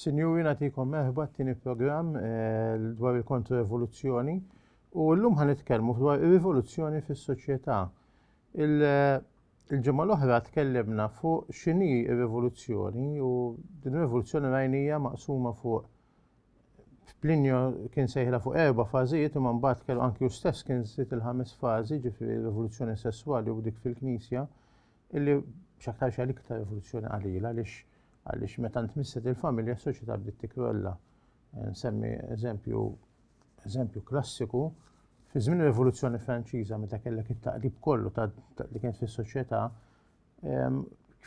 Sinjuri natikom meħba t-tini program eh, dwar il-kontra-evoluzzjoni u l-lum ħan itkellmu dwar il-rivoluzzjoni fis soċjetà Il-ġimgħa l-oħra tkellimna fuq x'inhi r-rivoluzzjoni u din ir-rivoluzzjoni rajnija maqsuma fuq Plinio kien sejħla fuq erba' fażijiet imma mbagħad kellu anki hu stess kien żied il-ħames fażi ġifieri rivoluzzjoni sesswali u dik fil-Knisja illi x'aktarx għal iktar rivoluzzjoni qalila għaliex għaliex meta ntmisset il-familja s-soċjetà bdiet tikrolla. Eh, nsemmi eżempju Eżempju klassiku, fi żmien ir-Rivoluzzjoni Franċiża meta kellek it-taqrib kollu ta' li kienet fis-soċjetà, ehm,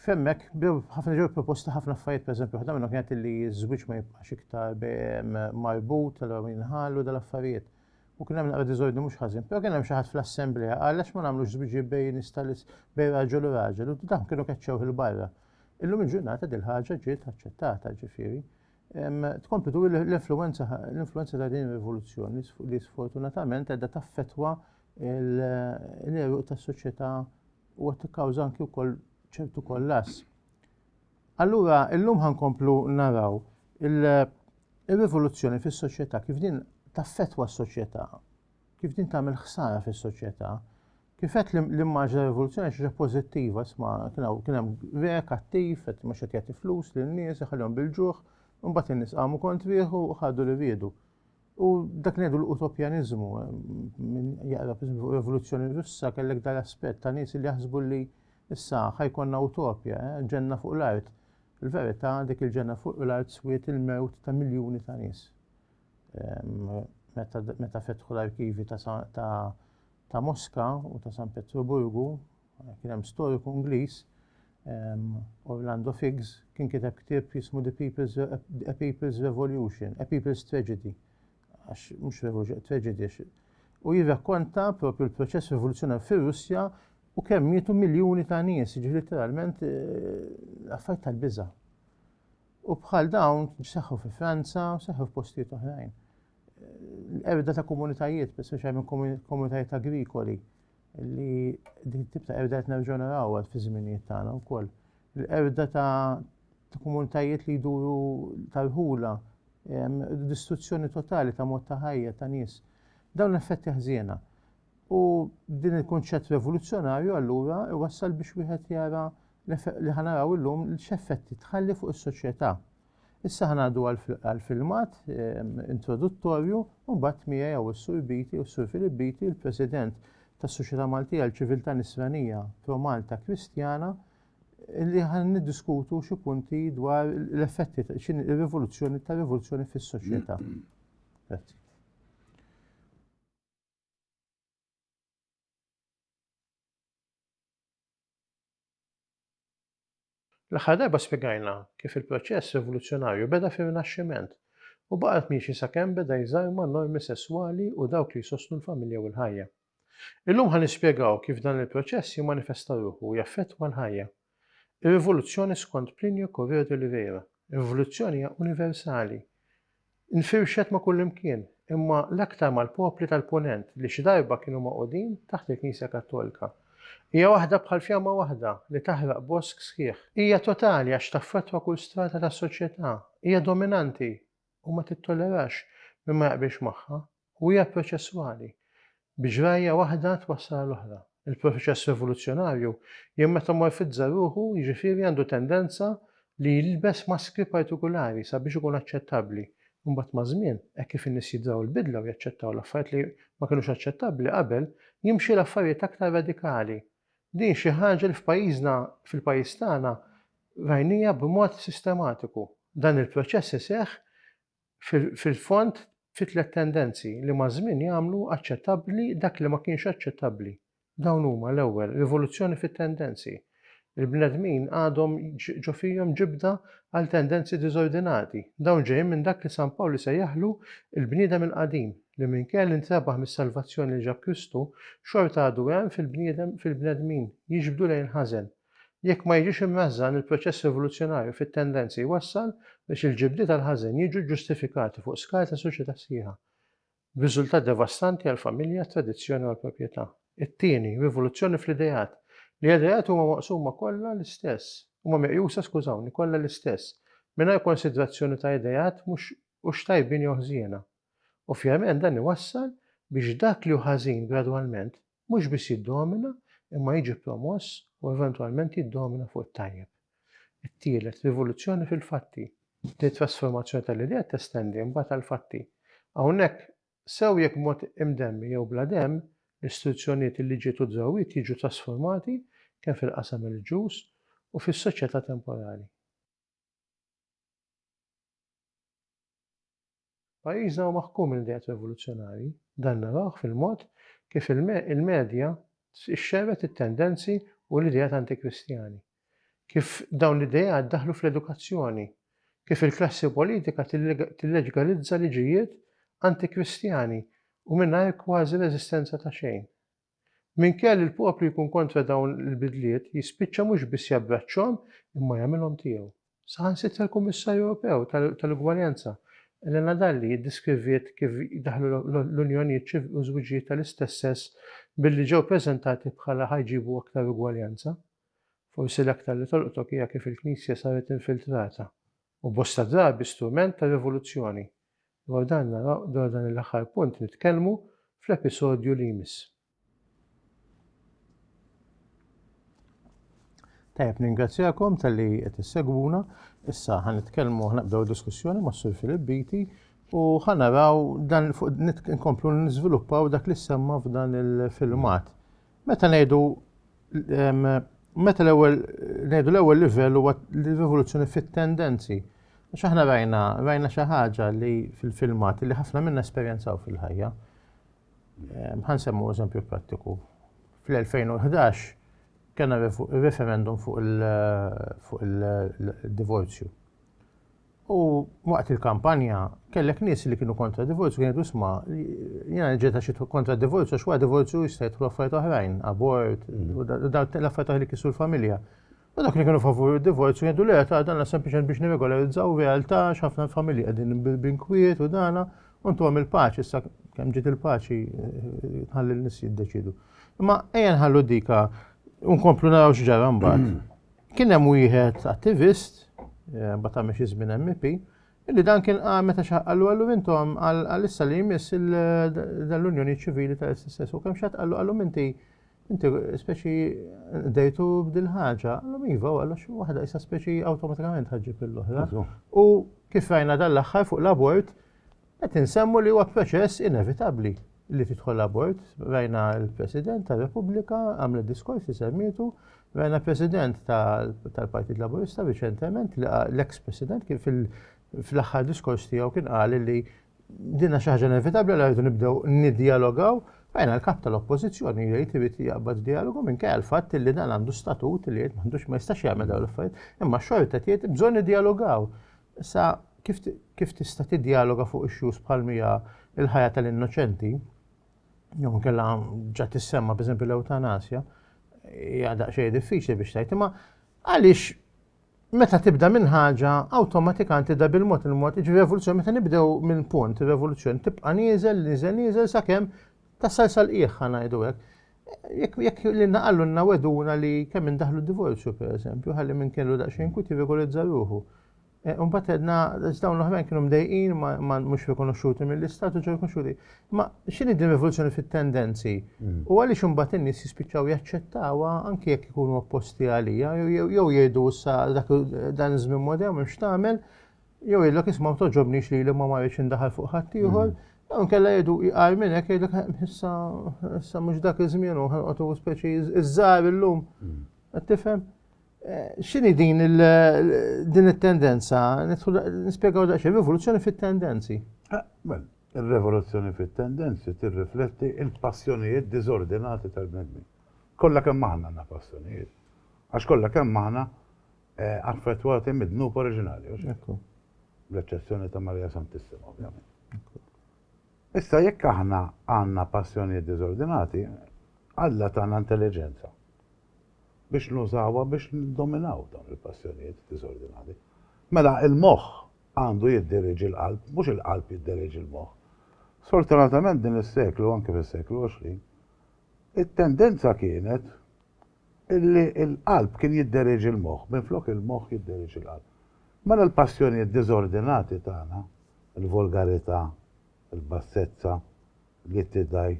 femmek bdew ħafna ġew proposti ħafna affarijiet, pereżempju waħda minnhom kienet li ż-żwieġ ma jibqax iktar ehm, marbut, tal jinħallu dal-affarijiet. U kien hemm naqra diżordni mhux ħażin, però kien hemm xi ħadd fl-assemblea qal għax ma nagħmlux żwieġi bej nistalis bej raġel u raġel u dawn kienu keċċew il-barra. Illum il-ġurnata dil ħaġa ġiet aċċettata ġifieri. tkompli tu l-influenza l-influenza ta' din ir-rivoluzzjoni li sfortunatament qiegħda taffetwa l-eruq tas-soċjetà u qed tikkawża anki wkoll ċertu kollass. Allura illum ħankomplu naraw il-rivoluzzjoni fis-soċjetà kif din taffetwa s-soċjetà kif din tagħmel ħsara fis-soċjetà. Kif qed l-immaġ ta' rivoluzzjoni xi pożittiva isma' kien hemm rek attiv qed mhux qed jagħti flus lin nies iħallihom bil-ġuħ, imbagħad in-nies qamu kontrieħu u ħadu li riedu. U dak ngħidu l-utopjaniżmu, minn jaqra fuq rivoluzzjoni russa kellek dal-aspett ta' nies li jaħsbu li issa ħajkonna utopja, eh, ġenna fuq l-art. Il-verità dik il-ġenna fuq l-art swiet il-mewt ta' miljuni ta' nies. meta fetħu l-arkivi ta' Moska u ta' San Petruburgu, kien hemm storiku Ingliż, Orlando Figes, kien kiteb ktieb jismu The People's, A People's Revolution, A People's Tragedy, għax mhux revolution, tragedy, u jirrakkonta propju l-proċess rivoluzzjonar fir-Russja u kemm mietu miljuni ta' nies, jiġifieri letteralment affarijiet tal-biża'. U bħal dawn seħħu fi Franza, seħħu f'postijiet oħrajn. Erda ta' komunitajiet, speċjal minn komunitajiet agrikoli, li din tip ta' erda qed nerġgħu narawha fi żminijiet tagħna wkoll. L-erda ta' komunitajiet li jduru tal-ħula, distruzzjoni totali ta' mod ta' ħajja ta' nies. Dawn l-effetti ħżiena. U din il-kunċett revoluzzjonarju allura iwassal biex wieħed jara li ħanaraw illum x'effetti tħalli fuq is-soċjetà. Issa ħanadu għal-filmat ehm, introduttorju u mbagħad miegħi jew is-Sur Biti u s-Sur Filip Biti, il-President tas-Soċjetà Maltija l-Ċiviltà Nisranija Pro Malta Kristjana, li ħan niddiskutu xi punti dwar l-effetti x'in ir-rivoluzzjoni ta' rivoluzzjoni fis-soċjetà. Grazzi. L-aħħar darba spjegajna kif il-proċess rivoluzzjonarju beda fir-Rinaxximent u baqgħet miexi sakemm beda jżarma normi sesswali u dawk li jsostnu l-familja u l-ħajja. Illum ħa nispjegaw kif dan il-proċess jimmanifesta ruħu u jaffettwa l-ħajja. Ir-rivoluzzjoni skont Plinio Correo de Oliveira, rivoluzzjoni hija universali. Infirxet ma' kullimkien, imma l-aktar mal-popli tal-Punent li xi darba kienu magħqudin taħt il-Knisja Kattolika. Hija waħda bħal fjamma waħda li taħraq bosk sħiħ. Hija totali għax taffettwa kull strata tas-soċjetà. Hija dominanti u ma tittollerax min ma jaqbilx magħha. u hija proċessuali, bi ġrajja waħda twassal għal oħra. Il-proċess rivoluzzjonarju jimmetamorfizza ruħu jiġifieri għandu tendenza li jilbes maskri partikulari sabiex ikun aċċettabbli. Imbagħad maż-żmien, hekk kif in-nies jidraw l-bidla u jaċċettaw l-affarijiet li ma kinux aċċettabbli qabel, jimxi l-affarijiet aktar radikali. Din xi ħaġa li f'pajjiżna, fil-pajjiż tagħna, rajnija b'mod sistematiku. Dan il-proċess iseħħ fil-fond fi tliet tendenzi li maż-żmien jagħmlu aċċettabbli dak li ma kienx aċċettabbli. Dawn huma, l-ewwel, rivoluzzjoni fit-tendenzi. Il-bnedmin għadhom ġo fihom ġibda għal tendenzi diżordinati. Dawn ġejjin minn dak li San Pawl isejjaħlu l-bniedem il-qadim, li minkejja li ntrebaħ mis-salvazzjoni li ġab Kristu, xorta għadu hemm fil-bniedem fil-bnedmin, jiġbdu lejn il-ħażen. Jekk ma jiġix imnażżan, il-proċess evoluzzjonarju fit-tendenzi jwassal biex il-ġibdiet għall-ħażen jiġu ġġustifikati fuq skala ta' soċjetà sħiħa, b'riżultat devastanti għall-familja, t-tradizzjoni u għall-proprjetà. It-tieni, rivoluzzjoni fl-ideat. L-ideat huma maqsuma kollha l-istess, huma meqjusa, skużawni, kollha l-istess, mingħajr konsidrazzjoni ta' ideat mhux hux tajbin jew ħżiena. Ovvjament dan iwassal biex dak li hu ħażin gradwalment mhux biss jiddomina imma jiġi promoss u eventwalment jiddomina fuq it-tajjeb. It-tielet, rivoluzzjoni fil-fatti. Din it-trasformazzjoni tal-idea testendi mbagħad għall-fatti. Hawnhekk, sew jekk b'mod imdemmi jew bla demm, l-istituzzjonijiet, il-liġijiet u d-drawwiet jiġu trasformati kemm fil-qasam reliġjuż u fis-soċjetà temporali. Pajjiżna hu maħkum minn ideat rivoluzzjonarji. Dan narawh fil-mod kif il-medja xxerred it-tendenzi u l-ideat antikristjani, kif dawn l-ideat daħlu fl-edukazzjoni, kif il-klassi politika tilleġgalizza liġijiet antikristjani u mingħajr kważi reżistenza ta' xejn. Minkejja li l-poplu jkun kontra dawn il-bidliet, jispiċċa mhux biss jabbraċċhom imma jagħmilhom tiegħu. Saħansitra l-Kummissarju Ewropew tal-Ugwaljanza, Elena Dalli ddeskriviet kif daħlu l-unjonijiet u żwiġijiet tal-istess sess billi ġew preżentati bħala ħa jġibu aktar ugwaljanza. Forsi l-aktar li tolqtok hija kif il-Knisja saret infiltrata u bosta drabi strument ta' rivoluzzjoni, dwar dan naraw dwar dan l-aħħar punt nitkellmu fl-episodju li jmiss. Tajjeb ningrazzjakom tal-li qed issegwuna, issa ħan nitkellmu ħnaqbdew diskussjoni ma' Sur Filip Biti u ħanaraw dan fuq nkomplu niżviluppaw dak li semma f'dan il-filmat. Meta ngħidu meta l-ewwel ngħidu l-ewwel livell huwa l-rivoluzzjoni fit-tendenzi. Għax aħna rajna rajna xi ħaġa li fil-filmat li ħafna minna esperjenzaw fil-ħajja. Ħan semmu eżempju prattiku. Fl-2011 kena referendum fuq il-divorzju. U waqt il-kampanja kellek nies li kienu kontra divorzju kienu jgħidu sma' jiena ġejt għax kontra divorzju għax wara divorzju jista' jidħlu affarijiet oħrajn, abort, u dawk l-affarijiet oħra li kisru l-familja. U dak li kienu favur id-divorzju jgħidu le ta' dan sempliċement biex nirregolarizzaw realtà x'ħafna familji qegħdin b'inkwiet u dana u ntuhom il-paċi issa kemm ġiet il-paċi tħalli l-nies jiddeċidu. Imma ejja nħallu dika u nkomplu naraw x'ġara mbagħad. Kien hemm wieħed attivist, eh, mbagħad għamel xi żmien MP, illi dan kien qal meta xaqqallu għallu intom għal issa li jmiss l-Unjoni Ċivili tal-SSS u kemm xatt għallu għallu inti inti speċi dejtu b'dil ħaġa, għallu iva għallu xi waħda issa speċi awtomatikament ħaġġib l-oħra. U kif rajna dan l-aħħar fuq l-abort, Qed insemmu li huwa proċess inevitabbli li tidħol abort. Rajna l-President tar-Repubblika għamlet diskors li semmietu, rajna President tal-Partit Laburista riċentement li l-eks President kien fl-aħħar diskors tiegħu kien qal li dinna xi ħaġa inevitabbli li rridu nibdew nidjalogaw. Rajna l-kap tal-oppożizzjoni jgħid irid jaqbad dialogu minn kajja l-fatt li dan għandu statut li jgħid m'għandux ma jistax jagħmel dawn l-affarijiet, imma xorta jgħid bżonn nidjalogaw. Issa, kif, kif tista' tiddjaloga fuq issues bħal mija il-ħajja tal-innoċenti, jew inkella ġa tissemma b'eżempju l-ewtanasja, hija daqsxejn diffiċli biex tgħid, imma għaliex meta tibda minn ħaġa awtomatikant tibda bil-mod il-mod, iġi revoluzzjoni meta nibdew minn punt, revoluzzjoni tibqa' nieżel, nieżel, nieżel sakemm tasal sal-qiegħ ngħidu hekk. Jekk jekk li naqallu naweduna li kemm indaħlu divorzju pereżempju, ħalli minn kellu daqsxejn kwit jirregolizza ruħu. E, Mbagħad edna dawn l-oħrajn kienu mdejqin ma mhux rikonoxxuti mill-istat u ġew rikonoxxuti. Ma x'inhi din rivoluzzjoni fit-tendenzi? Mm. U għaliex imbagħad in-nies jispiċċaw jaċċettawha anke jekk ikunu opposti għalija jew jgħidu issa dan iż-żmien modern m'hemmx tagħmel jew jgħidlek isma' toġobnix li li ma marriċ indaħal fuq ħaddieħor, mm. jew kella jgħidu jqar minn hekk jgħidlek issa issa mhux dak iż-żmien u ħanqotu speċi iż-żgħar illum. Mm. Qed tifhem? Eh, x'inhi din din it-tendenza? Nispjegaw daqsxejn rivoluzzjoni fit-tendenzi. Ah, mela, ir-revoluzzjoni fit-tendenzi tirrifletti il-passjonijiet diżordinati tal-bnedmin. Kollha kemm aħna għandna passjonijiet. Għax kollha kemm aħna affettwati mid-dnub oriġinali, u x'hekk hu. Bl-eċċezzjoni ta' Marija Santissima, ovvjament. Issa jekk aħna għandna passjonijiet diżordinati, Alla tagħna intelliġenza biex nużawha biex niddominaw dawn il-passjonijiet diżordinati. Mela il-moħħ għandu jiddiriġi l-qalb, mhux il-qalb jiddiriġi l-moħħ. Sfortunatament din is-seklu, anke fis-seklu 20, it-tendenza kienet Illi l-qalb kien jidderieġi l-moħħ, minflok il-moħħ jidderieġi l-qalb. Mela l-passjonijiet diżordinati tagħna, il-volgarità, il-bassezza, l-ittidgħi,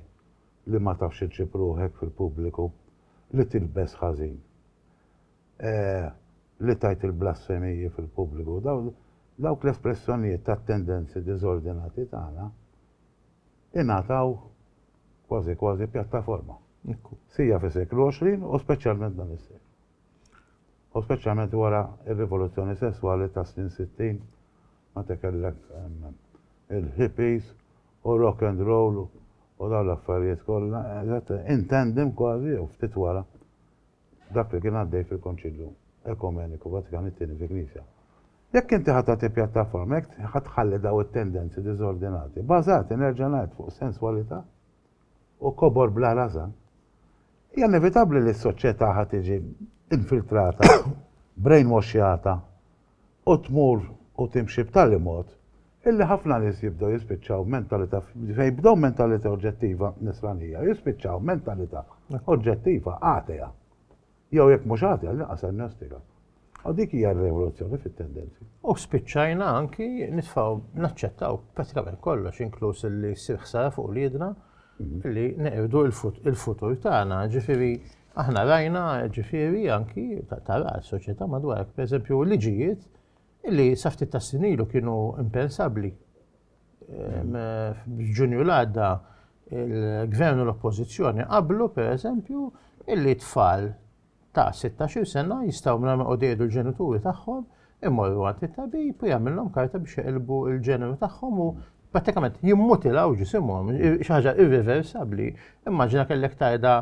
li ma tafx iġġib ruħek fil-pubbliku, li tilbes ħażin, li tgħid il-blasfemiji fil-pubbliku, dawk l-espressjonijiet tat-tendenzi diżordinati tagħna, ingħataw kważi kważi pjattaforma sija fis-seklu 20 u speċjalment dan is-seklu. U speċjalment wara r-rivoluzzjoni sesswali tas-snin 60 meta kellek il-hippies u rock and roll u dawn l-affarijiet kollha, intendem kważi jew ftit wara dak li kien għaddej fil-Konċilju Ekumeniku Vatikan it-Tieni fi Knisja. Jekk inti ħa tagħti pjattaforma, jekk ħa tħalli dawn it-tendenzi diżordinati, bażati, nerġa' ngħid, fuq senswalità u kobor bla rażan, hija inevitabbli li s-soċjetà ħa tiġi infiltrata, brainwashjata, u tmur u timxi b'tali mod illi ħafna nies jibdew jispiċċaw mentalità fejn jibdew mentalità oġġettiva nisranija jispiċċaw mentalità oġġettiva atea. Jew jekk mhux atea għall-inqas agnostika. U dik hija r-revoluzzjoni fit-tendenzi. U spiċċajna anki nitfgħu naċċettaw pratikament kollox inkluż illi ssir ħsara fuq uliedna mhm. li neqirdu il-futur tagħna, ġifieri Aħna rajna, ġifieri, anki, tara s-soċjetà madwarek, pereżempju, liġijiet li sa ftit tas-snin ilu kienu impensabbli. F'Ġunju l-għadda il-Gvern u l-Oppożizzjoni qablu, pereżempju, illi tfal ta' 16-il sena jistgħu mingħajr ma jqogħdu jgħidu l-ġenituri tagħhom imorru għand it-tabib u jagħmilhom karta biex jaqilbu l-ġeneru tagħhom u prattikament jimmutilaw ġisimhom, xi ħaġa irriversabbli. Immaġina kellek tajda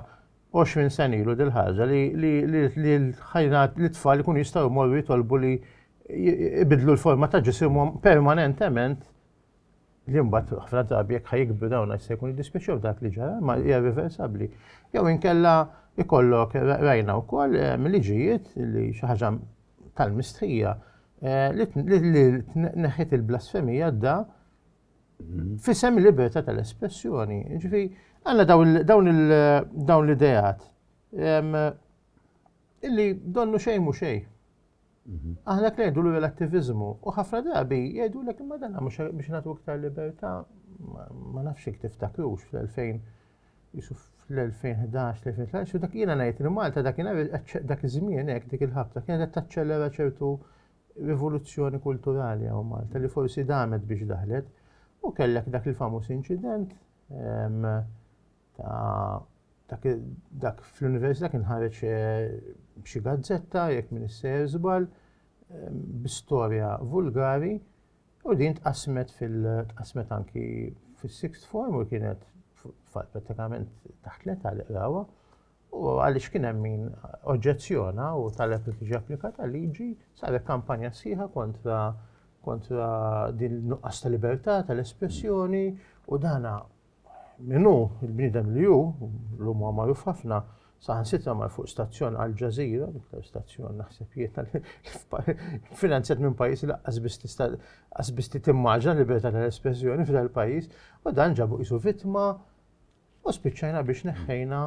20 sena ilu dil-ħaġa li l-tfal ikun jistgħu jmorru jitolbu li jibidlu l-forma ta' ġisimhom permanentement li mbagħad ħafna drabi jekk ħajkbru dawn se jkun jiddispiċċew dak li ġara ma hija riversabbli. Jew inkella ikollok rajna wkoll ehm, liġijiet li xi ħaġa tal-mistħija eh, li neħħet il-blasfemija da F'isem il-libertà tal-espressjoni, ġifi, għanna dawn l-idejat illi donnu xejn mu xejn. Mhm. Aħna t-nejdu l attivizmu u ħafna drabi jgħidu l-ek ma dan mux biex natu iktar libertà ma nafx jek tiftakrux fl-2000 jisuf fl-2011, 2013, u dak jina najt li Malta dak jina dak iż-żmien hekk dik il-ħabta kienet qed taċċellera ċertu rivoluzzjoni kulturali hawn Malta li forsi damet biex daħlet u kellek dak il-famuż inċident ehm, ta' dak fl-università kien ħareġ eh, xi gazzetta jekk min isser żball ehm, b'istorja vulgari u din tqasmet fil-tqasmet anki fis-sixth form u kienet pratikament taħt l-età li qrawha U għaliex kien hemm min oġġezzjona u talab li tiġi applikata liġi, saret kampanja sħiħa kontra kontra din nuqqas ta' libertà tal-espressjoni u dana minnu il-bnidem li ju, l-lum huwa magħruf ħafna, saħan sitra mar fuq stazzjon għal ġazira, l-iktar stazzjon naħseb jiena finanzjat minn pajis li qasbis li timmaġna libertà tal-espressjoni f'dal pajis, u dan ġabu isu vittma U spiċċajna biex neħħejna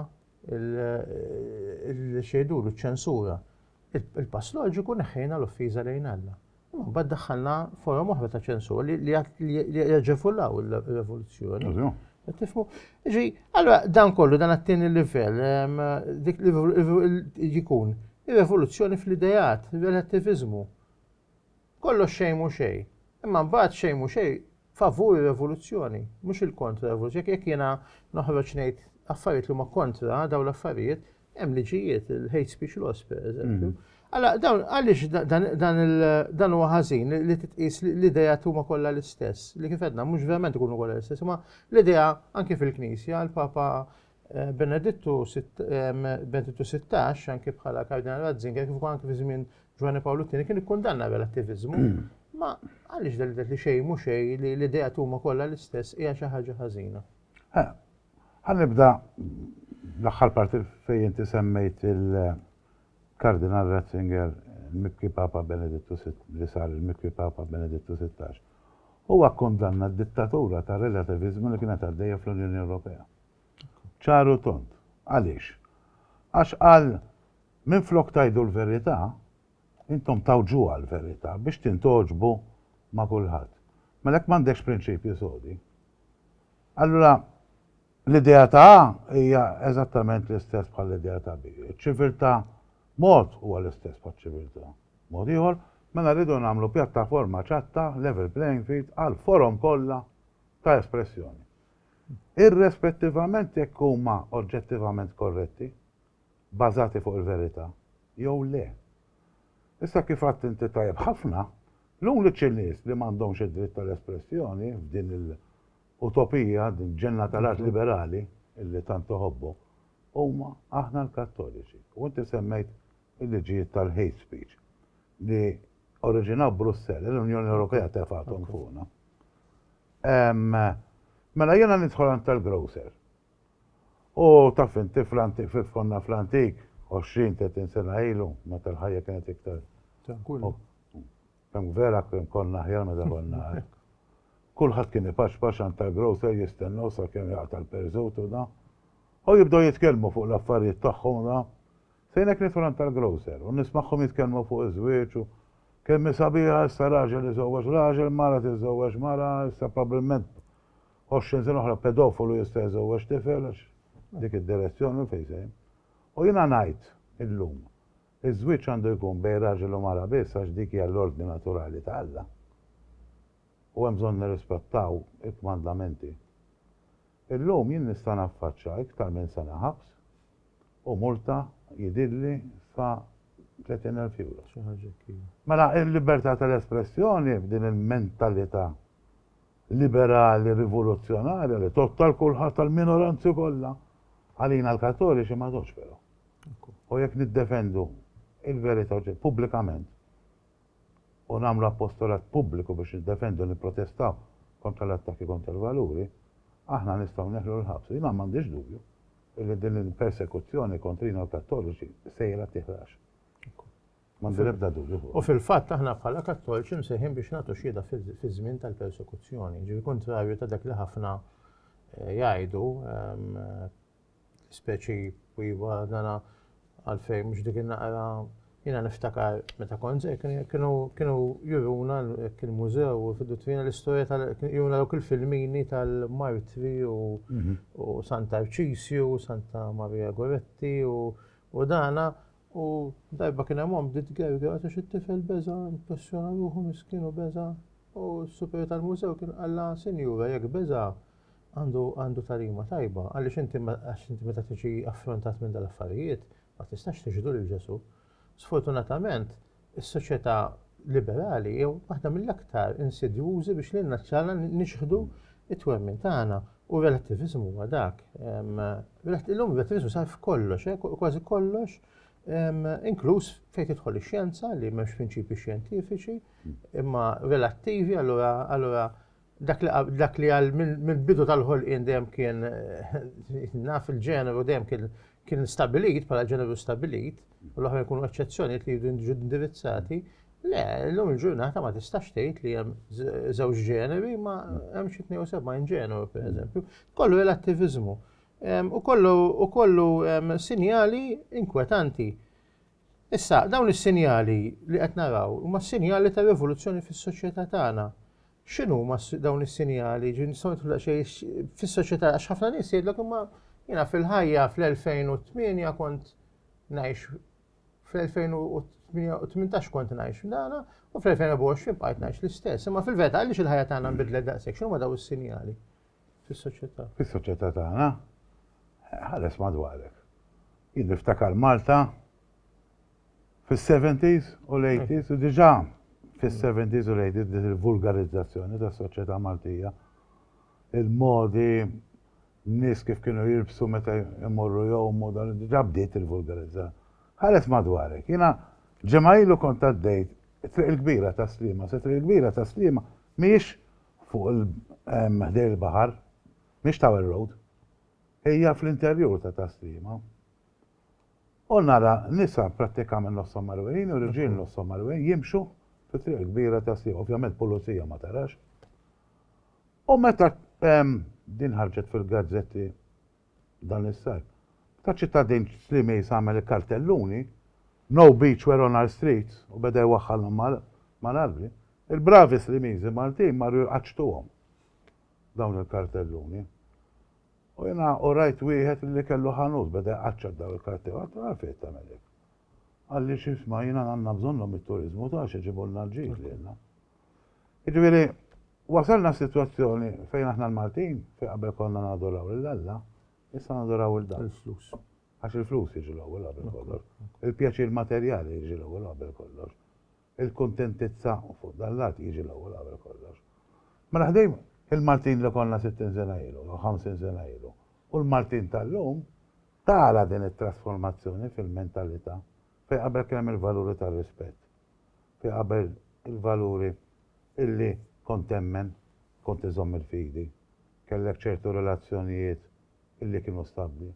il-xejdulu ċ-ċensura. Il-pass loġiku neħħejna l-offiża lejn Alla. Imma mbagħad daħħalna forom oħra ta' ċensur li jaġefullaw il-revoluzzjoni. Tifmu? Ġi, allora dan kollu dan għattini l-livell, ehm, dik jikun il-revoluzzjoni fl-idejat, il-relativizmu. Kollox xejn mhu xejn. Imma mbagħad xejn mhu xejn favur ir-revoluzzjoni, mhux il-kontra revoluzzjoni. Jekk jekk jiena noħroġ ngħid affarijiet li huma kontra dawn l-affarijiet, hemm liġijiet, il-hate speech laws pereżempju. Alla dawn għaliex dan huwa ħażin li titqis l-idea huma kollha l-istess, li kif għedna mhux verament ikunu kollha l-istess, imma l-idea anke fil-Knisja, l-Papa Eh, Benedittu 16, anki bħala Kardinal Ratzinger, kif anki fi żmien Ġwanni Pawlu II, kien ikkundanna relattivizmu. Mm. Ma għaliex dal li xejn mhux xejn li l-idea tuma kollha l-istess hija xi ħaġa ħażina. Ħanibda l-aħħar parti fejn inti semmejt il-Kardinal Ratzinger il-Mikwi Papa Benedittu li sar il-Mikwi Papa Benedittu 16. Huwa kkundanna d-dittatura tar-relativizmu li kienet għaddejja fl-Unjoni Ewropea. Ċar u tond. Għaliex? Għax qal, Minflok tgħidu l-verità, intom tgħawġuha l-verità biex tintgħoġbu ma' kulħadd. Mela jekk m'għandekx prinċipji sodi, allura l-idea ta' A hija eżattament l-istess bħall-idea ta' B. Iċ-ċiviltà mod huwa l-istess bħaċ-ċiviltà mod ieħor, mela rridu nagħmlu pjattaforma ċatta, level playing field, għall-forom kollha ta' espressjoni. irrispettivament jekk huma oġġettivament korretti, bbażati fuq il-verità, jew le. Issa kif għidt inti tajjeb ħafna, l-uniċi nies li m'għandhomx id-dritt tal-espressjoni f'din il-utopija, din il-ġenna tal-art liberali li tant toħobbu, huma aħna l-Kattoliċi. U inti semmejt il-liġijiet tal-hate speech. li oriġinaw Brussell, li l-Unjoni Ewropea tefgħathom fuqna. Mela jiena nidħol għand tal-grocer. U taf inti fl-antik, fif konna fl-antik, 20-30 sena ilu, meta l-ħajja kienet iktar. Kemm vera kien konna ħjar meta konna hekk. Kulħadd kien ipaxpax għand tal-grocer jistennew sakemm jaqta' l-perżut u da. U jibdew jitkellmu fuq l-affarijiet tagħhom da. Sejna k-ristorant tal-grocer u nismagħhom jitkellmu fuq iż-żwieġ u, Kemm hi sabiħa, issa raġel iżewweġ raġel, mara tiżżewweġ mara, issa probbilment għoxrin sena oħra pedofolu jista' jżewweġ tifel għax dik id-direzzjoni fejn se. U jiena ngħid illum, iż-żwieġ għandu jkun bejn raġel u mara biss għax dik hija l-ordni naturali ta' Alla u hemm bżonn nirrispettaw il-kmandamenti. Illum jien nista' naffaċċa iktar minn sena ħabs u multa jidhirli sa 30 elf ewro. Xi ħaġa hekk iva. Mela l-libertà tal-espressjoni f'din il-mentalità liberali rivoluzzjonarja li tgħodd għal kulħadd tal-minoranzi kollha, għalina l-Kattoliċi ma tgħoddx però. U jekk niddefendu il-verità pubblikament, u nagħmlu appostolat pubbliku biex niddefendu u nipprotestaw kontra l-attakki kontra l-valuri, aħna nistgħu neħlu l-ħabs. Jiena m'għandix dubju li din il-persekuzzjoni kontrina l-Kattoliċi sejra tiħrax. M'għandi l-ebda dubju fuq. U fil-fatt aħna bħala Kattoliċi msejħin biex nagħtu xhieda fiż-żmien tal-persekuzzjoni, ġifieri kuntrarju ta' dak li ħafna eh, jgħidu ehm, speċi u iva dana għalfejn mhux dik naqra jiena niftakar meta kont kienu kienu juruna kien mużew u fidu twina l-istorja tal juruna dawk il-filmini tal-martri u mhm. Santa Arċisju, Santa Maria Goretti u dana u darba kien hemm bdiet gerga għax it-tifel beża impressjona ruħu miskinu beża u s-super tal-mużew kien qalla sinjura jekk beża għandu għandu tarima tajba, għaliex inti għax inti meta tiġi affrontat minn dal-affarijiet ma tistax tiġdu lil Ġesù. Sfortunatament, is-soċjetà liberali jew waħda mill-aktar insidjużi biex lilna ċċala nixħdu it-twemmin tagħna u r-relattivizmu huwa dak. Illum relattivizmu sar f'kollox, eh, kważi kollox, inkluż fejn tidħol ix-xjenza li m'hemmx prinċipji xjentifiċi, imma relattivi allura Dak li dak li għal mill-bidu tal-ħolqien dejjem kien naf il-ġeneru dejjem kien kien stabilit bħala ġeneru stabilit u l-oħra jkunu eċċezzjonijiet li jridu jiġu indirizzati. Le, l-lum il-ġurnata ma tistax tgħid li hemm żewġ ġeneri ma hemm xi 72 ġeneru pereżempju. Kollu relattivizmu. U kollu u kollu sinjali inkwetanti. Issa, dawn is-sinjali li qed naraw huma sinjali ta' rivoluzzjoni fis-soċjetà tagħna. X'inhuma dawn is-sinjali? Ġifieri nistgħu nidħlu daqsxejn fis-soċjetà għax ħafna nies jgħidlek imma jiena fil-ħajja fl-2008 kont ngħix fl-2018 kont ngħix f'dana u fl-2024 bqajt ngħix l-istess. Imma fil-verità għaliex il-ħajja tagħna nbidlet daqshekk x'inhuma dawn is-sinjali? Fis-soċjetà. Fis-soċjetà tagħna, ħares madwarek. Jien niftakar Malta fis-70s u l-80s u diġà fis-70s u l-80s din il-vulgarizzazzjoni tas-soċjetà Maltija. Il-modi n-nies kif kienu jilbsu meta jmorru jgħumu dan diġà bdiet il-vulgarizza. Ħares madwarek, jiena ġemgħilu kont għaddejt triq il-kbira ta' slima, se triq il-kbira ta' slima mhijiex fuq il ħdejn il-baħar, mhix Tower Road, hija fl-interjur ta' Taslima. U nara nisa prattikament nofshom marwejin u riġiel nofshom marwejin jimxu fit-triq kbira ta' Slima, ovvjament pulizija ma tarax. U meta din ħarġet fil-gazzetti Dan is-sajf. Meta ċittadin Slimis għamel il-kartelluni, No beach where on our streets u beda jwaħħalhom mal-arbli, il-bravi Slimiżi Maltin marru jqaċċtuhom dawn il-kartelluni. U jiena u rajt wieħed li kellu ħanut beda jqaċċa dawn il-kartelluni. Għattu għalfejn tagħmel hekk. Għalli xisma jiena għandna bżonnhom it-turiżmu ta' xi ġibulna l-ġid lilna. Jiġifieri Wasalna f'sitwazzjoni fejn aħna l-Maltin, fejn qabel konna nadoraw lil Alla, issa nadoraw il-dan. Il-flus. Għax il-flus jiġi l-ewwel qabel kollox. Il-pjaċir materjali jiġi l-ewwel qabel kollox. Il-kuntentizza fuq dan l-art jiġi l-ewwel qabel kollox. Mela ħdejn il-Maltin li konna 60 sena ilu, jew 50 sena ilu, u l-Maltin tal-lum, tara din it-trasformazzjoni fil-mentalità fejn qabel kien hemm il-valuri tar-rispett. fi qabel il-valuri illi kont temmen, kont iżomm il-fidi, kellek ċertu relazzjonijiet illi kienu stabbli,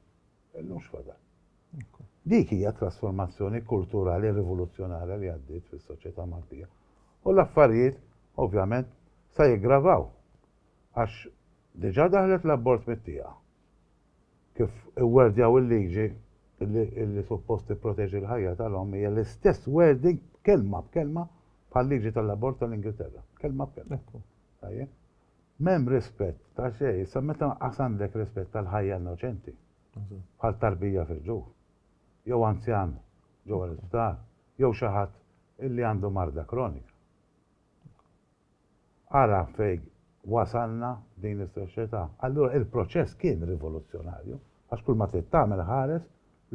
illum x'fadal? Dik hija t-trasformazzjoni kulturali rivoluzzjonarja li għaddiet fis-soċjetà Maltija. U l-affarijiet, ovvjament, se jiggravaw għax diġà daħlet l-abort mit-tieqa. kif iwwerdjaw il-liġi li suppost tipproteġi l-ħajja tal-omm hija l-istess wording kelma b'kelma bħal-liġi tal-abort tal-Ingilterra. Kelma b'kelma. Tajjeb? M'hemm rispett ta' xejn, issa meta qas għandek rispett tal-ħajja innoċenti, bħal tarbija fil-ġuf, jew anzjan ġewwa l-isptar, jew xi ħadd illi għandu marda kronika. Ara fejn wasalna f'din is-soċjetà. Allura il-proċess kien rivoluzzjonarju għax kull ma trid tagħmel ħares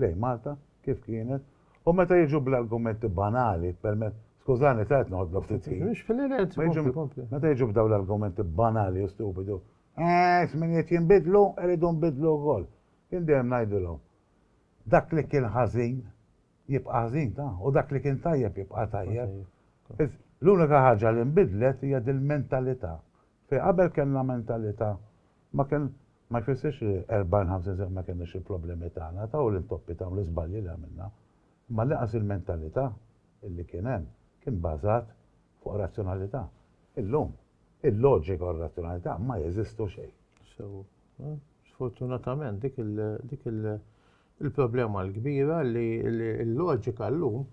lejn Malta kif kienet u meta jiġu bl-argumenti banali permezz, skużani ta' qed noħodlok ftit ħin. Mhux fil-ħin qed, kompli, kompli. Meta jiġu b'dawn l-argumenti banali u stupidu, Eeh, iż-żminijiet jinbidlu, irridu nbiddlu wkoll. Jien dejjem ngħidilhom, dak li kien ħażin jibqa' ħażin ta' u dak li kien tajjeb jibqa' tajjeb. L-unika ħaġa li nbidlet hija dil-mentalità. Fejn qabel kellna mentalità ma kien ma jfissirx li 40, 50 sena ma kellniex il-problemi tagħna ta' u l-intoppi ta' u l-iżbalji li għamilna. Imma l-inqas il-mentalità li kien hemm kien bażat fuq razzjonalità. Illum il-loġika u r-razzjonalità ma jeżistu xejn. Sew. Sfortunatament dik il-dik il Il-problema l-kbira li l-loġika llum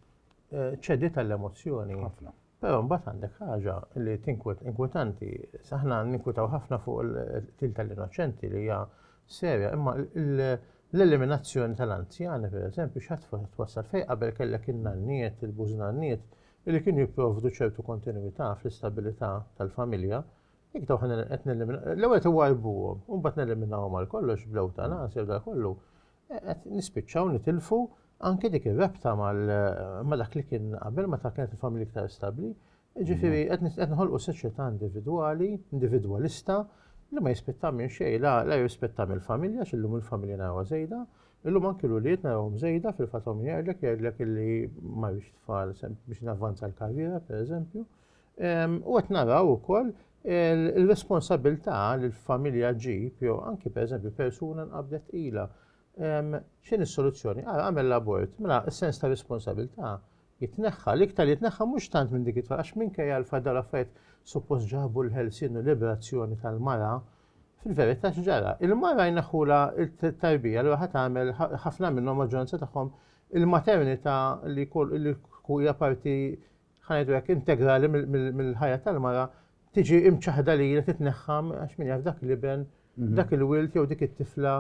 ċedi tal-emozzjoni. Ħafna. Però mbagħad għandek ħaġa li tinkwet inkwetanti. Aħna ninkwetaw ħafna fuq il-qtil tal-innoċenti li hija serja, imma l-eliminazzjoni tal-anzjani, per eżempju, xat twassal fej qabel kellek il-nanniet, il-bużnanniet, li kienu jipprovdu ċertu kontinuità fl-istabilità tal-familja, Jekk daw ħana qed neliminaw, l-ewwel tiwajbuhom, u mbagħad neliminawhom għal kollox bl-ewtanasja u dak kollu, e, qed nispiċċaw nitilfu anke dik ir-rabta ma' dak li kien qabel ma ta' kienet il-familja iktar stabbli. Ġifieri mhm. qed nħolqu soċjetà individwali, individwalista, li ma jispetta minn xejn, la, la jispetta mill-familja, xillum il-familja narawha żejda, illum anki l-uliet narawhom żejda fil-fatom jgħidlek jgħidlek illi ma biex tfal biex navvanza l-karriera, per eżempju, U qed naraw ukoll il-responsabilità li l-familja ġib, jew anki pereżempju persuna nqabdet ila. X'in is-soluzzjoni? Ara għamel l-abort, mela s-sens ta' responsabilità jitneħħa, l-iktar li jitneħħa mhux tant minn dik it-tfal, għax minkejja l-fatt dawn l-affarijiet suppost ġabu l-ħelsien u liberazzjoni tal-mara, fil-verità x'ġara? Il-mara jneħħula t-tarbija li ħadd tagħmel ħafna minnhom maġġoranza tagħhom il-maternità li hija parti ħanajdu hekk, integrali mill-ħajja tal-mara tiġi imċaħda li jilha titneħħa għax min jaf dak l-iben, mhm. dak il-wilt jew dik it-tifla,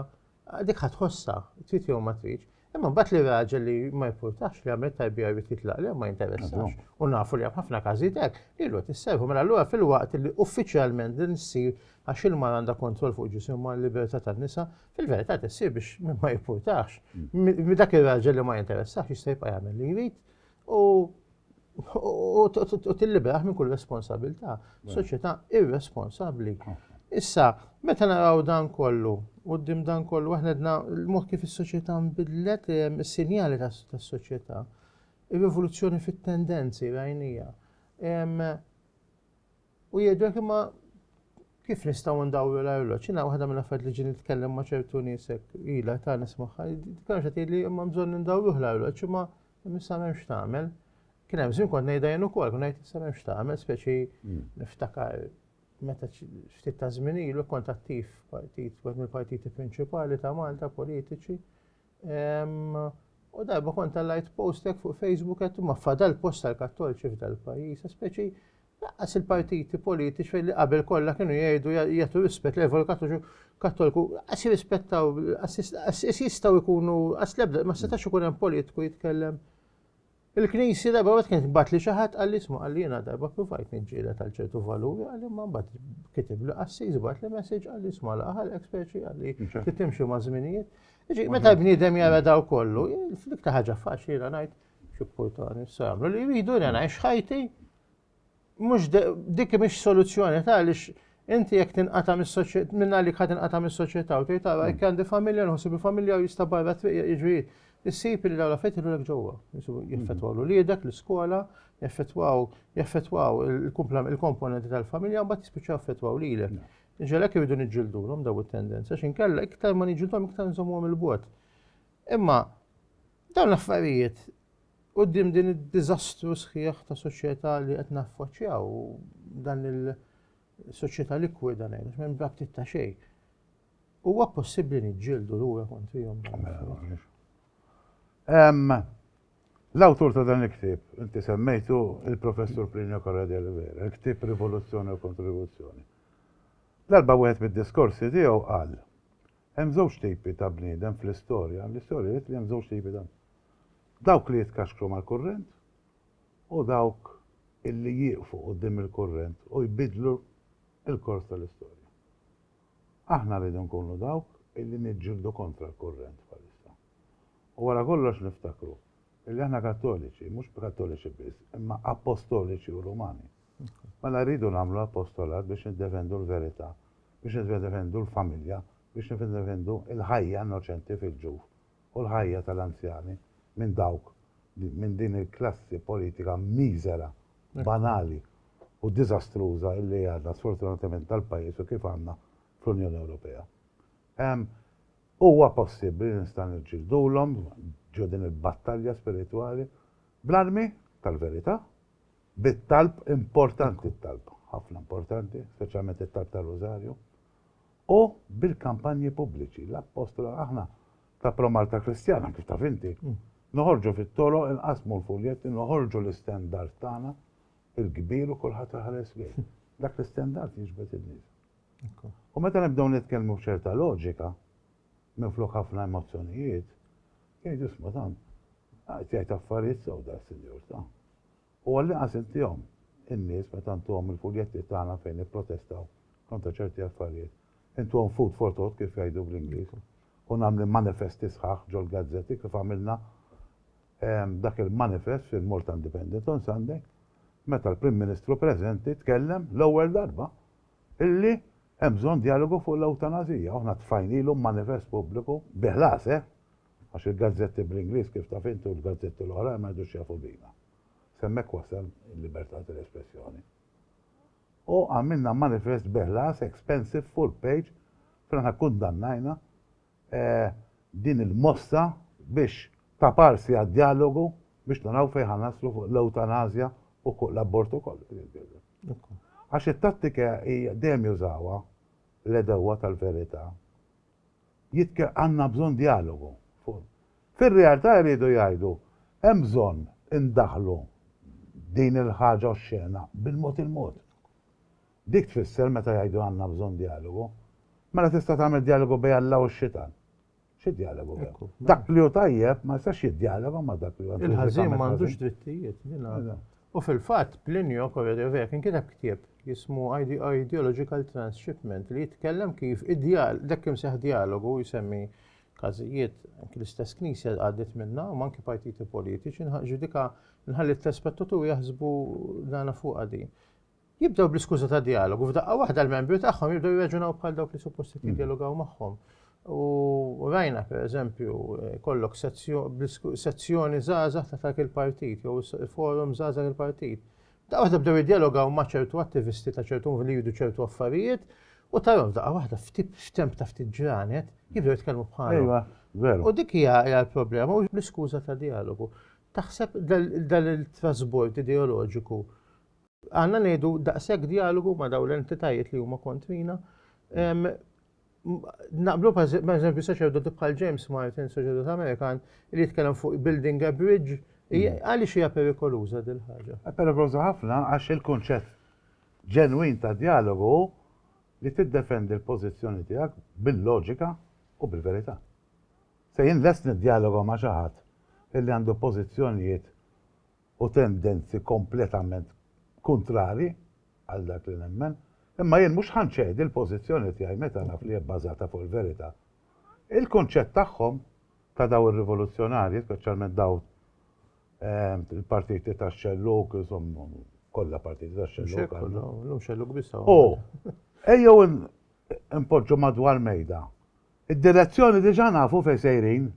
dik ħatħossa, trid jew ma tridx. Imma mbagħad li raġel li ma jpurtax li għamil tajbija jrid jitlaq li ma jinteressax. U nafu li hemm ħafna każijiet hekk li l tisserħu mela allura fil-waqt li uffiċjalment din issir għax il-mar għandha kontroll fuq ġisim ma l-libertà tan-nisa, fil-verità tissir biex ma jpurtax. Mm. Dak ir-raġel li ma jinteressax jista' jibqa' jagħmel li jrid u u tilliberaħ minn kull responsabilità. Soċjetà irresponsabbli. Issa, meta naraw dan kollu, u d-dim dan kollu, aħna dna l-mod kif is-soċjetà nbidlet is-sinjali tas-soċjetà, ir-rivoluzzjoni fit-tendenzi rajnija. U jgħidlek imma kif nistgħu ndawru l-arloġġ? Jiena waħda mill-affarijiet li ġi nitkellem ma' ċertu nies hekk ilha ta' nismaħħa, dikar xa tgħidli imma bżonn indawruh l-arloġġ imma issa m'hemmx tagħmel. Kien hemm żmien kont ngħidha jien ukoll, kont ngħid issa m'hemmx tagħmel, speċi hmm. niftakar meta ftit ta' żmien ilu kont attiv partit, wieħed mill-partiti prinċipali ta' Malta politiċi. U darba kont tal-light postek fuq Facebook qed ma fadal post tal-Kattolċi f'dal-pajjiż, speċi Lanqas il-partiti politiċi li qabel kollha kienu jgħidu jagħtu rispett lejn poplu Kattoliċu Kattoliku, lanqas jirrispettaw, lanqas jistgħu jkunu, lanqas l-ebda, ma setax ikun hemm politiku jitkellem. Il-Knisja darba wieħed kienet tbagħat li xi ħadd qal li sma' qal li jiena darba provajt niġġieled għal ċertu valuri qal imma mbagħad kitib li qassis bagħat li messaġġ qal li sma' l-aħħar eksperċi qal li titimxi ma' żminijiet. Ġi, meta bniedem jara daw kollu, fl-iktar ħaġa faċli jiena ngħid xi portani s-samlu li jridu jiena ngħix ħajti mhux dik mhix soluzzjoni ta' għaliex inti jekk tinqata' mis-soċjetà minn għalik ħad tinqata' mis-soċjetà u tgħid tara jekk għandi familja nħossib il-familja u jista' barra triq jiġri issib li dawn l-affett ilulek ġewwa. Jeffettwaw l-uliedek, l-iskola, jeffettwaw jeffettwaw il-komponenti tal-familja mbagħad jispiċċaw jeffettwaw lilek. Ġelek iridu niġġildulhom daw it-tendenza x'inkella iktar ma niġġildhom iktar nżommuhom il-bot. Imma Dawn l-affarijiet quddiem din id-diżastru sħiħ ta' soċjetà li qed naffaċċjaw dan il-soċjetà likwida ngħidu minn braktit ta' xejn. Huwa possibbli niġġieldu lura kontrihom. Mela, L-awtur ta' dan il-ktieb, inti semmejtu il-Professur Plinio Carra de Oliveira, il-ktieb Rivoluzzjoni u Kontribuzzjoni. Darba wieħed mid-diskorsi tiegħu qal Hemm żewġ tipi ta' bniedem fl-istorja, l-istorja wriet li hemm żewġ tipi ta' dawk li jitkaxkru mal-kurrent u dawk illi jieqfu quddiem il-kurrent u jbiddlu l-kors tal-istorja. Aħna rridu nkunu dawk illi niġġieldu kontra l-kurrent bħalissa. U wara kollox niftakru illi aħna Kattoliċi, mhux Kattoliċi biss, imma Appostoliċi u Rumani. Mela rridu nagħmlu apostolat biex niddefendu l-verità, biex niddefendu l-familja, biex niddefendu l-ħajja innoċenti fil-ġuf u l-ħajja tal-anzjani minn dawk, minn din il-klassi politika miżera, banali u diżastruża li għandna sfortunatament tal-pajjiż u kif għandna fl-Unjoni Ewropea. Huwa possibbli li nistgħu niġġildulhom ġo din il-battalja spiritwali bl-armi tal-verità bit-talb, importanti t-talb, ħafna importanti, speċjalment it-talb tar-Rużarju, u bil-kampanji pubbliċi, l-Appostola, aħna ta' Promalta Kristjana, kif taf inti, mm. noħorġu fit-toroq, inqasmu l-fuljetti, noħorġu l-istendard tagħna, il-kbir u kulħadd ħares lejh. Dak l-istendard jiġbed in-nies. U meta nibdew nitkellmu b'ċerta loġika, minn flok ħafna emozzjonijiet, jgħid isma' dan, qed jgħid affarijiet sew da sinjur ta' u għall-inqas intihom, in-nies, meta ntuhom il-fuljetti tagħna fejn nipprotestaw kontra ċerti affarijiet, intuhom food for thought kif jgħidu bl-Ingliż, u nagħmli manifesti sħaħ ġol-gazzetti kif għamilna dak il-manifest fil-Malta Independent on Sunday meta l-Prim Ministru preżenti tkellem l-ewwel darba illi Hemm bżonn djalogu fuq l-ewtanasija u aħna tfajnielhom manifest pubbliku, bi ħlas eh! għax il-gazzetti bl-Ingliż kif taf int u l-gazzetti l-oħrajn ma jgħidux jafu bina. S'hemmhekk wasal il-libertà tal-espressjoni. U għamilna manifest bi ħlas expensive full page fejn aħna kkundannajna din il-mossa biex taparsi għad-djalogu biex naraw fejn ħa naslu fuq l-ewtanasja u fuq l-abortu kollu din il-bidla. Għax it-tattika hija dejjem jużawha l-għedewwa tal-verità. Jitke għandna bżonn djalogu. Fir-realtà jridu jgħidu hemm bżonn indaħħlu din il-ħaġa oxxena bil-mod il-mod. Dik tfisser meta jgħidu għandna bżonn djalogu. Mela tista' tagħmel djalogu bejn Alla u x-xitan. Xi djalogu hemm? Dak li hu tajjeb ma jistax jiddjaloga ma' dak li huwa intrinsicament ħażin. Il-ħażin m'għandux drittijiet, din għadha. U fil-fatt Plinio Corredeovec inkiteb ktieb jismu Ideological Transshipment li jitkellem kif id-djal dak imseħ djalogu jsemmi każijiet anki l-istess knisja għaddiet minnha u anki partiti politiċi nħaq ġudika nħalli t-telespettaturi jaħsbu dana fuqha din. Jibdew bl-iskuża ta' dialogu, f'daqqa waħda l-membri tagħhom jibdew jirraġunaw bħal dawk li suppost mm. jidjalogaw magħhom. U rajna per eżempju eh, kollok sezzjoni żgħażagħ ta' dak il-partit jew forum żgħażagħ il-partit. Daqqa waħda bdew jidjalogaw ma' ċertu attivisti ta' ċertu li jridu ċertu affarijiet u tarhom daqqa waħda f'temp ta' ftit ġranet jibdew jitkellmu bħalhom. U dik hija l-problema u l-iskuża ta' dialogu. Taħseb dal-trasbord ideoloġiku Għandna ngħidu daqshekk djalogu ma' dawn l-entitajiet li huma kontrina. Naqblu pereżempju saċerdoti bħal James Martin, saċerdot Amerikan, li jitkellem fuq building a bridge, għaliex hija perikoluża din ħaġa? Perikoluża ħafna għax il-kunċett ġenwin ta' djalogu hu li tiddefendi l-pożizzjoni tiegħek bil-loġika u bil-verità. Se jien lest niddjaloga ma' xi ħadd illi għandu pożizzjonijiet u tendenzi kompletament kuntrarji għal dak li nemmen, imma jien mhux ħa nċedi l-pożizzjoni tiegħi meta naf li hija bbażata fuq il-verità. Il-kunċett tagħhom, ta' dawn ir-rivoluzzjonarji, speċjalment dawn il-partiti tax-xellug, insomma, kollha partiti tax-xellug. Llum xellug biss hawn. U ejjew inpoġġu madwar mejda. Id-direzzjoni diġà nafu fejn sejrin.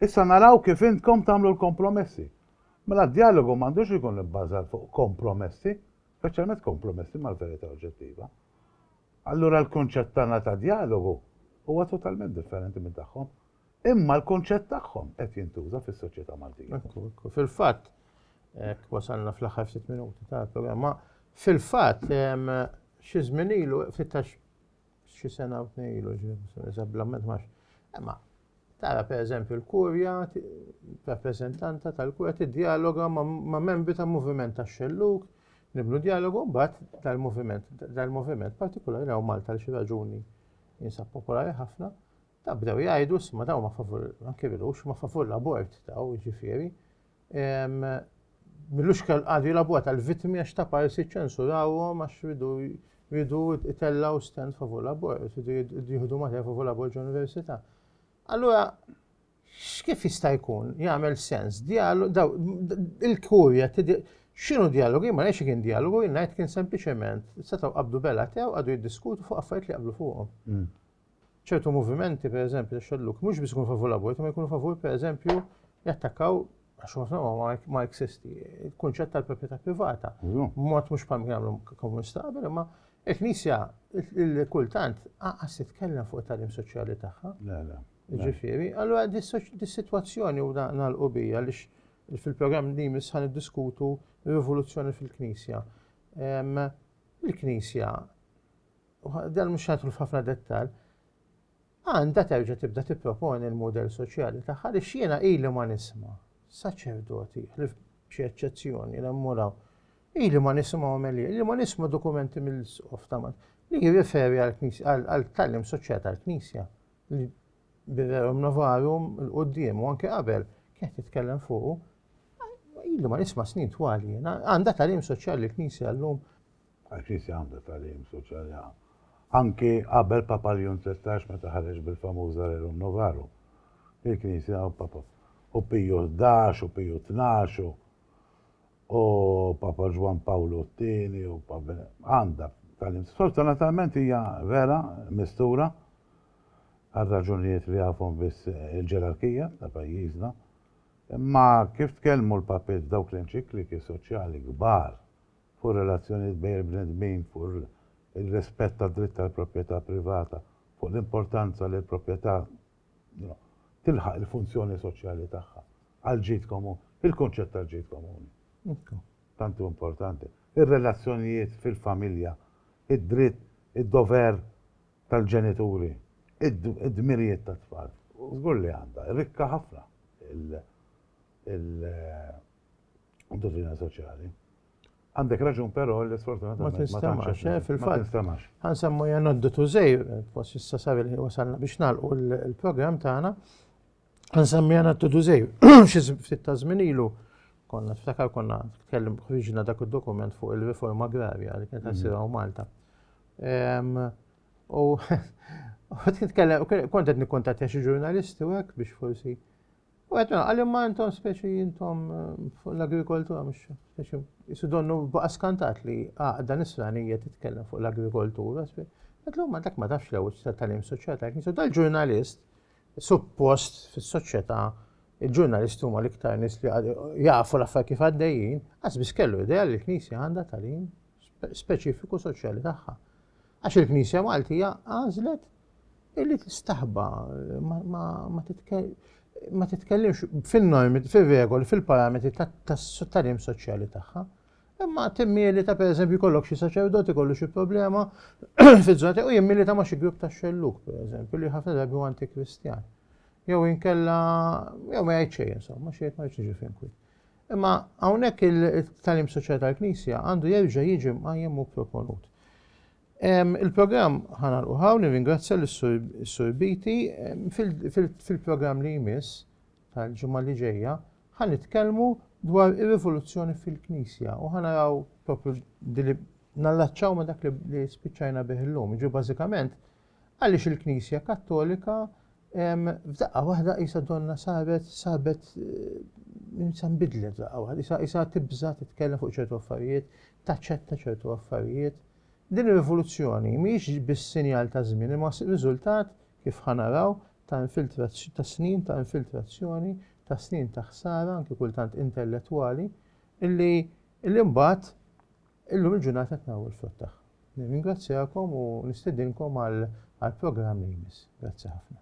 Issa naraw kif intkom tagħmlu l-kompromessi. Mela d-djalogu m'għandux ikun ibbażat fuq kompromessi, speċjalment kompromessi mal-verità oġġettiva. Allura l-kunċett tagħna ta' djalogu huwa totalment differenti minn tagħhom. Imma l-kunċett tagħhom qed jintuża fis-soċjetà Maltija. Fil-fatt, hekk wasalna fl-aħħar ftit minuti tal-programma, fil-fatt xi żmien ilu fitax Xi sena u tnej ilu ġie kwistjoni żablament max. Imma tara pereżempju l-kurja, rappreżentanta tal-kurja tiddjaloga ma' membri ta' moviment ta' xelluk, nibnu dialogu mbagħad dal-moviment, dal-moviment partikolari għaw Malta l xi raġuni jinsab popolari ħafna, Ta' bdew jgħidu, isma daw ma favur, anke bilux, ma favur l-abort daw, ġifiri. Millux kell għadu l-abort għal-vitmi għax ta' parsi ċensurawhom għax ridu ridu itellaw stand favur l-abort, ridu jihdu mater favur l-abort ġ-università. Allura, x'kif jista' jkun jagħmel sens dialog daw il-kurja x'inhu dialogu ma ngħidx kien dialogu ngħid kien sempliċement setgħu qabdu bela tew għadu jiddiskutu fuq affarijiet li qablu fuqhom. Mm. ċertu movimenti, per eżempju, ta' xelluk, mhux biss ikunu favur l-abort, ma jkunu favur, per eżempju, jattakkaw għax ma ma eksisti, il-kunċett tal-proprjetà privata. Mod mhux bħal jagħmlu komunista qabel, imma il-Knisja kultant qas titkellem fuq it-tagħlim soċjali tagħha. Ġifieri, allura dis-sitwazzjoni u nagħlqu bija li fil-programm li jmiss ħan diskutu rivoluzzjoni fil-Knisja. Il-Knisja dan mhux ħadħlu f'ħafna dettall, għandha terġa' tibda tipproponi l-mudell soċjali tagħha li x'jiena ili ma nisma' saċerdoti ħlif b'xi eċċezzjoni li mmuraw. Ili ma nisimgħu għamelijiet, ili ma nisma' dokumenti mill-isqof ta' li jirriferi għal-tallim soċjali tal-Knisja li biverum novarum l-qoddim u anke qabel kienet titkellem fuq ili ma nisma' snin twali, għandha tallim soċjali l-Knisja llum għax nies jagħmlu tagħlim soċjali anki qabel Papa Leon 13 meta ħareġ bil-famuża Rerum Novarum. Il-Knisja u Papa u Piju 11 u Piju 12 u Papa Ġwan Pawlu t-tieni u Papa għandha tagħlim. Sfortunatament hija vera mistura għal raġunijiet li għafhom biss il-ġerarkija ta' pajjiżna. Imma kif tkellmu l-papiet dawk l-enċikliki soċjali kbar fuq ir-relazzjonijiet bejn il-bnedmin, fuq ir-rispett tad-dritt tal-proprjetà privata, fuq l-importanza li l-proprjetà tilħaq il-funzjoni soċjali tagħha għall-ġid komuni. Il-kunċett tal-ġid komuni, tant hu importanti. Ir-relazzjonijiet fil-familja, id-dritt, id-dover tal-ġenituri, id-dmirijiet tat-tfal. Żgur li għandha. Rikka ħafna u dovina soċjali. Għandek raġun però li sfortunatament ma tinstemax, eh, fil-fatt. Għan semmu janoddu tużej, fos issa sabi li wasalna biex nalqu l-program tagħna. Għan semmu janoddu tużej, xi ftit ta' żmien ilu konna ftakar konna tkellim ħriġna dak id-dokument fuq il-riforma agrarja li kienet għasira mm. u Malta. U kont qed nikkontattja xi ġurnalisti hekk biex forsi U għet minna, għalli ma intom speċi intom fuq l-agrikoltura, mux speċi, jisu donnu baqa skantat li għaqda nisranija titkellem fuq l-agrikoltura, speċi. Għetlu, ma dak ma tafx l-ewel ta' tal-im soċieta, jisu dal-ġurnalist, suppost fis soċieta il-ġurnalisti huma l-iktar nis li jafu l-affar kif għaddejjin, għas biss kellu ideja li l-knisja għanda tal-im speċifiku soċjali tagħha. Għax il-Knisja Maltija għażlet illi tistaħba ma titkellimx fin-normi, fir-regoli, fil-parametri tat-talim soċjali tagħha. Imma timmili ta' pereżempju kollok xi saċerdoti kollu xi problema fiż-żona u jimmili ta' ma xi grupp ta' xelluk pereżempju li ħafna drabi huwa antikristjan. Jew inkella jew ma jgħid xejn insomma xi jgħid ma jgħidx fin kwi. Imma hawnhekk il-tagħlim soċjali tal-Knisja għandu jerġa' jiġi mqajjem u proponut. Il-programm ħanal uħaw nirringrazzja l-Sur Biti fil-programm li jmiss tal-ġimgħa li ġejja ħan nitkellmu dwar ir-rivoluzzjoni fil-Knisja u ħanaraw propju li nallaċċaw ma dak li spiċċajna bih illum. Ġi bażikament Għaliex il-Knisja Kattolika f'daqqa waħda qisha donna saret sabet insa nbidlet f'daqqa waħda, qisha qisha tibża' titkellem fuq ċertu affarijiet, taċċetta ċertu affarijiet. Din ir-rivoluzzjoni mhijiex biss sinjal ta' żmien imma riżultat kif ħa naraw ta' infiltrazzjoni ta' snin ta' infiltrazzjoni, ta' snin ta' ħsara anki kultant intellettwali, illi illi mbagħad Illum il-ġurnata qed naraw il-frott tagħha. Nirringrazzjakom u nistedinkom għall-programm li jmiss. Grazzi ħafna.